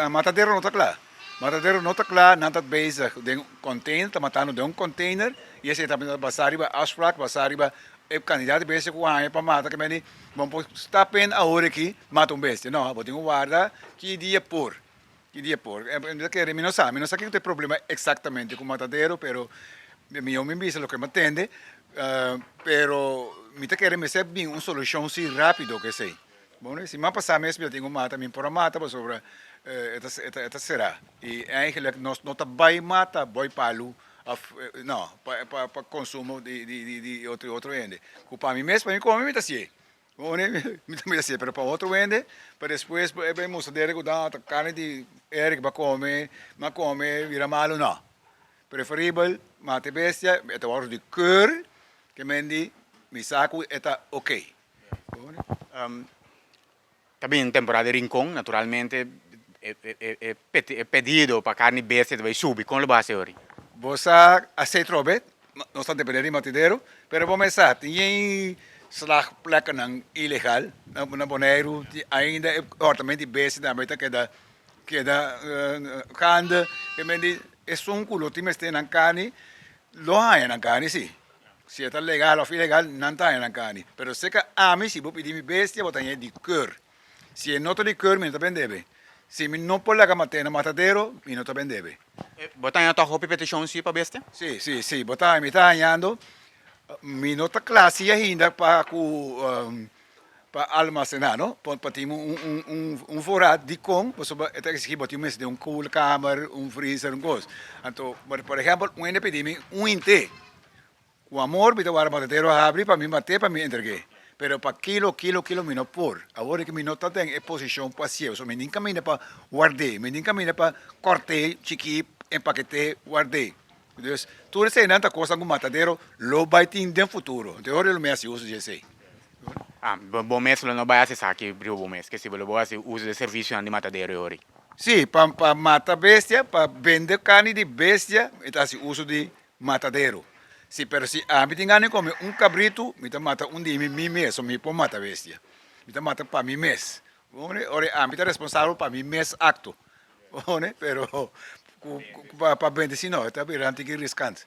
Matadero no ta kla. Matadero no ta kla, nan ta bezig den container, ta matando den un container y esei ta basa riba afspraak, basa riba e cantidad di bestia cu bo a haya pa mata, kende di bo no por stap en awor aki mata un bestia, no, bo tin cu warda ki dia por, ki dia por, mi no sa, mi no sa kico ta e problema exactamente cu matadero pero mi awo mi bisa loke mi a tende, pero mi ta kere mester bin un solucion si rapido cu esei. Bo no e si, ma pasá mes mi ta tin un mata, mi por a mata pasobra e ta será. I eigenlijk nos no ta bai mata bòi palu òf nò, pa konsumo di otro hende. Ku pa mi mes, pa mi kome mi ta hasié. Mi tambe ta hasié, pero pa otro hende, pa despues e bai mustra dere ku ta karni di Eric ba kome, m'a kome, bira malu, nò. Preferibel mata e bestia, e ta wòrdu di kùr, kemen di mi sa ku e ta okey. Ta bini temporada di rincon naturalmente e pedido pa carni bestia ta bay subi con lo bo hasi ahori? Bo sa hasi trobe nos ta depende di matadero pero bo me sa tin e slag pleknan ilegal na Boneiru tin ainda e comportament di bestia nan bay ta keda keda gande esun cu lo tin mester nan carni lo haña nan carni si. Si e ta legal of ilegal nan ta haña nan carni pero seca ami si bo pidi mi bestia bo ta haña di keur si e no ta di keur mi no ta bendebe si mi no por laga mat'e na matadero mi no ta bendebe. Bo ta haña tok hopi peticion si pa bestia? Si si si bo ta haña mi ta hañando mi no ta cla si ainda pa cu pa almasená no pa tin un voorraad dikon pasobra e ta eksigí bo tin mester den un koelkamer un freezer un kos anto por ehèmpel un hende a pidi mi un hin te ku amor mi ta wòrdu matatero habri pa mi mat'é pa mi entreg'é pero pa kilo kilo kilo mi no por awor ki mi no ta den e posishon pa hasié so mi nin kaminda pa ward'é mi nin kaminda pa kòrt'é chikí empaket'é ward'é Dus, tur eseinan ta kosnan ku matadero lo bai tin den futuro. Anto e hora di lo mes hasi uso di esei. A, bo mes lo no bai hasi esaki riba bo mes, ke si bo lo bai hasi uso di e servisionan di matadero e hori? Sí, pa pa mata bestia, pa bende karni di bestia mi ta hasi uso di matadero. Sí, pero si ami tin gana di kome un kabritu, mi ta mata un di mi, mi mes, so mi por mata bestia. Mi ta mata pa mi mes. Ora ami ta responsabel pa mi mes acto pero pa bende si no ta bira nan tin ki riskant.